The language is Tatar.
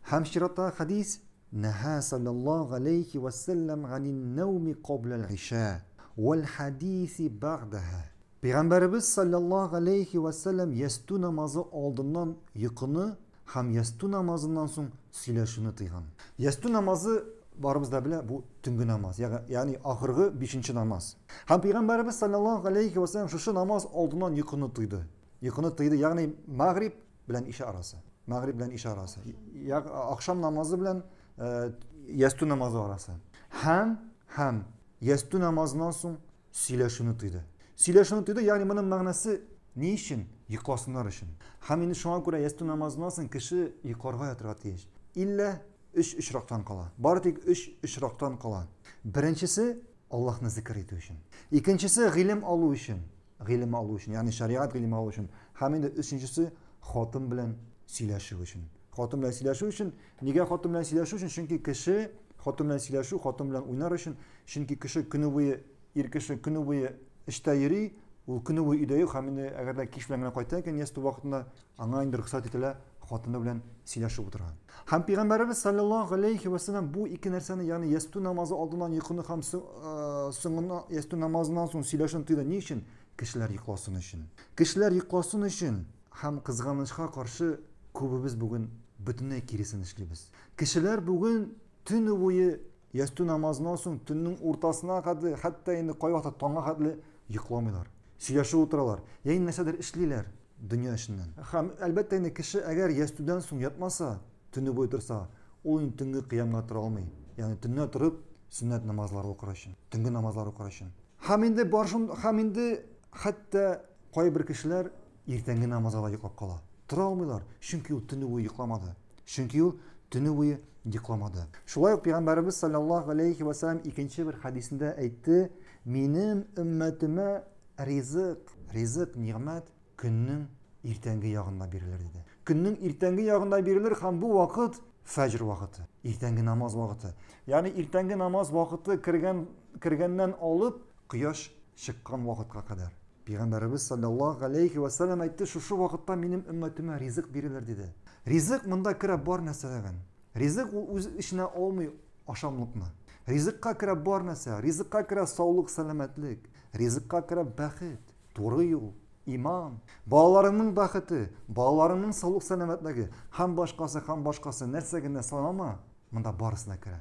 Һәм чираттагы хәдис, Нәһа саллаллаһу галәйһи вә сәлләм ганин нәүми кабля аль-иша вәл хадиси бәгъдәһә. Пәйгамбәребез саллаллаһу галәйһи вә сәлләм ястү намазы алдыннан йокыны һәм ястү намазыннан соң сөйләшүне тыйган. Ястү намазы, барыбыз да белә, бу төнге намаз, ягъни ахыргы бишенче намаз. Һәм Пәйгамбәребез саллаллаһу галәйһи вә сәлләм шушы намаз алдыннан йокыны тыйды. Йокыны тыйды, ягъни мәгъриб белән иша арасы. Мәгъриб белән иша арасы. Я ахшам намазы белән э, ястү намазы арасы. Һәм һәм ястү намазыннан соң сөйләшүне тыйды. Сөйләшүне тыйды, ягъни моның мәгънәсе ни өчен? Йокласыннар өчен. Һәм инде шуңа күрә ястү намазыннан соң кеше йокларга ятырга тиеш. Иллә өч очрактан кала. Бары тик өч очрактан кала. Беренчесе Аллаһны зикер итү өчен. Икенчесе гыйлем алу өчен. Гыйлем алу өчен, ягъни шәригать гыйлеме алу өчен. Һәм инде өченчесе хатын белән сөйләшү өчен. Хатын белән сөйләшү өчен. Нигә хатын белән сөйләшү өчен? Чөнки кеше хатын белән сөйләшү, хатын белән уйнар өчен. Чөнки кеше көне буе, ир кеше көне буе эштә йөри, ул көне буе өйдә юк һәм инде әгәр дә кич белән генә кайта икән, ястү вакытында Аңа инде рөхсәт ителә хатыны белән сөйләшеп утырырга. Һәм Пәйгамбәребез саллаллаһу алейхи вә сәлләм бу ике нәрсәне, ягъни ястү намазы алдыннан йокыны һәм соңына ястү намазыннан соң сөйләшүне тыйды. Ни өчен? Кешеләр йокласын өчен. Кешеләр йокласын өчен һәм кызганычка каршы күбебез бүген бөтенләй киресен эшлибез. Кешеләр бүген төне буе Ястү намазыннан соң төннең уртасына кадәр, хәтта инде кайвакытта таңга хәтле йокламыйлар. Сөйләшеп утыралар, я инде нәрсәдер эшлиләр дөнья эшеннән. Һәм, әлбәттә инде, кеше әгәр ястүдән соң ятмаса, төне буе торса, ул инде төнге кыямга тора алмый, ягъни төнлә торып сөннәт намазлары укыр өчен, төнге намазлар укыр өчен. Һәм инде бар шунд, һәм инде хәтта кайбер кешеләр Иртәнге намазга да йоклап кала. Тора алмыйлар, чөнки ул төне буе йокламады. Чөнки ул төне буе йокламады. Шулай ук пәйгамбәребез саллаллаһу алейхи ва саллям икенче бер хәдисендә әйтте, минем өммәтемә ризык, ризык, нигъмәт көннең иртәнге ягында бирелер диде. Көннең иртәнге ягында бирелер һәм бу вакыт фәҗр вакыты, иртәнге намаз вакыты. Ягъни иртәнге намаз вакыты кергән кергәннән алып кояш чыккан вакытка кадәр. Пәйгамбәребез салләллаһу галәйһи вә сәлләм әйтте, Шушы вакытта минем өммәтемә ризык бирелер, диде. Ризык монда керә бар нәрсәләрен. Ризык ул үзе эченә алмый ашамлыкны. Ризыкка керә бар нәрсә. Ризыкка керә саулык, сәламәтлек. Ризыкка керә бәхет, туры юл, иман, балаларыңның бәхете, балаларыңның саулык, сәламәтлеге һәм башкасы, һәм башкасы, нәрсә генә санама, монда барысы да керә.